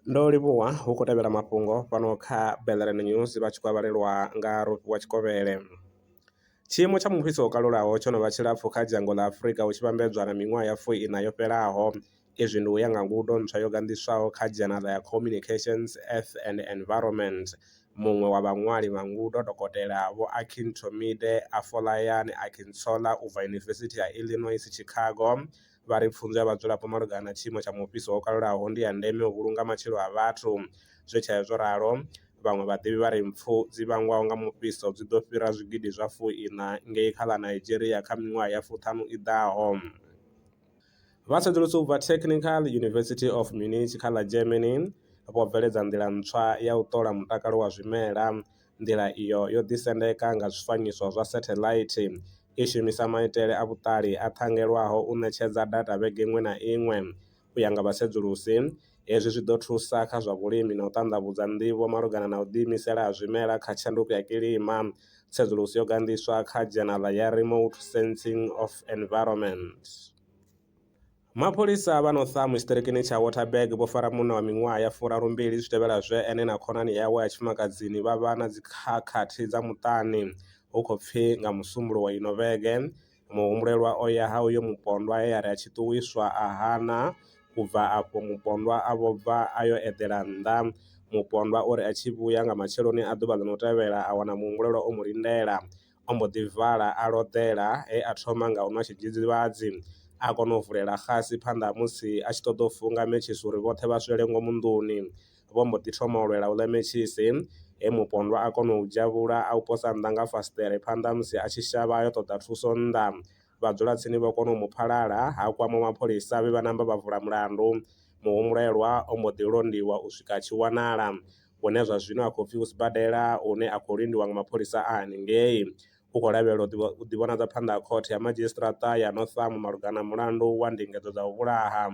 Ndo livhuwa hu khou tevhela mafhungo fhano kha Bellerin News vha tshi khou a vhalelwa nga Rofhiwa Tshikovhele. Tshiimo tsha mufhiso wo kalulaho tsho no vha tshilapfu kha dzhango ḽa Afrika hu tshi vhambedzwa na miṅwaha ya fu-iṋa yo fhelaho, izwi ndi u ya nga ngudo ntswa yo ganḓiswaho kha Dzhenara ya Communications, Earth and Environment. Muṅwe wa vhaṅwali vha ngudo, Dokotela Vho Akintomide Afolayan Akintola u bva Yunivesithi ya Illinois Chicago, vha ri pfunzo ya vhadzulapo malugana na tshiimo tsha mufhiso wo kalulaho ndi ya ndeme u vhulunga matshilo a vhathu. Zwi tshee zwo ralo, vhaṅwe vhaḓivhi vha ri mpfu dzi vhangwaho nga mufhiso dzi ḓo fhira zwigidi zwa fu-iṋa ngei kha ḽa Nigeria kha miṅwaha ya fuṱhanu i ḓaho. Vha sedzulusa u bva Technical University of Munich kha ḽa Germany vho bveledza nḓila ntswa ya u ṱola mutakalo wa zwimela. Nḓila iyo yo ḓisendeka nga zwifanyiso zwa setheḽaithi, i shumisa maitele a vhuṱali a ṱhangelwaho u ṋetshedza data vhege iṅwe na iṅwe. U ya nga vhasedzulusi, Hezwi zwi ḓo thusa kha zwa vhulimi na u ṱanḓavhudza nḓivho malugana na u ḓiimisela ha zwimela kha tshanduko ya kilima. Tsedzuluso yo ganḓiswa kha dzhenaḽa ya Remote Sensing of Environment. Mapholisa vha Northam tshiṱirikini tsha Waterberg vho fara munna wa miṅwaha ya furarumbili zwi tevhela zwe ene na khonani yawe ya tshifumakadzini vha vha na dzikhakhathi dza muṱani hu khou pfi nga Musumbuluwo wa ino vhege. muhumbulelwa o ya ha uyo mupondwa he a ri a tshi ṱuwiswa a hana, u bva afho mupondwa a vho bva a yo eḓela nnḓa. Mupondwa o ri a tshi vhuya nga matsheloni a ḓuvha ḽo no tevhela a wana muhumbulelwa o mu lindela. O mbo ḓi vala a loḓela he a thoma nga u nwa tshidzidzivhadzi. A kona u vulela xasi phanḓa ha musi a tshi ṱoḓa u funga mentshisi uri vhoṱhe vha swele ngomu nḓuni. vho mbo ḓi thoma u lwela u ḽa mentshisi, he mupondwa a kona u u dzhavhula a u posa nnḓa nga fasiṱere phanḓa ha musi a tshi shavha a yo ṱoḓa thuso nnḓa. Vhadzulatsini vho kona u mu phalala, ha kwamwa mapholisa vhe vha namba vha vula mulandu. Muhumbulelwa o mbo ḓi londiwa u swika a tshi wanala, hune zwa zwino a khou pfi u sibadela hune a khou lindiwa nga mapholisa a haningei. U khou lavhelelwa u ḓivhonadza phanḓa ha Khothe ya Madzhisiṱaraṱa ya North Am malugana na mulandu wa ndingedzo dza u vhulaha.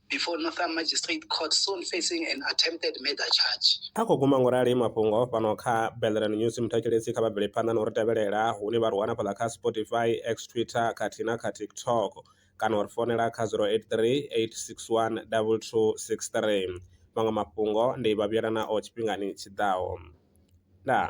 before Northern Magistrate Court soon facing an attempted murder charge. A khou guma ngorali mafhungo fhano kha Belran News muthatshelesi kha vha bvele phanḓa no ri tevhelela hune vha ri wana fhaḽa kha Spotify, X Twitter khathihi na kha TikTok kana u ri fonela kha 083 861 2263. Maṅwe mafhungo ndi vha vhuyela nao tshifhingani tshi ḓaho. Ndaa.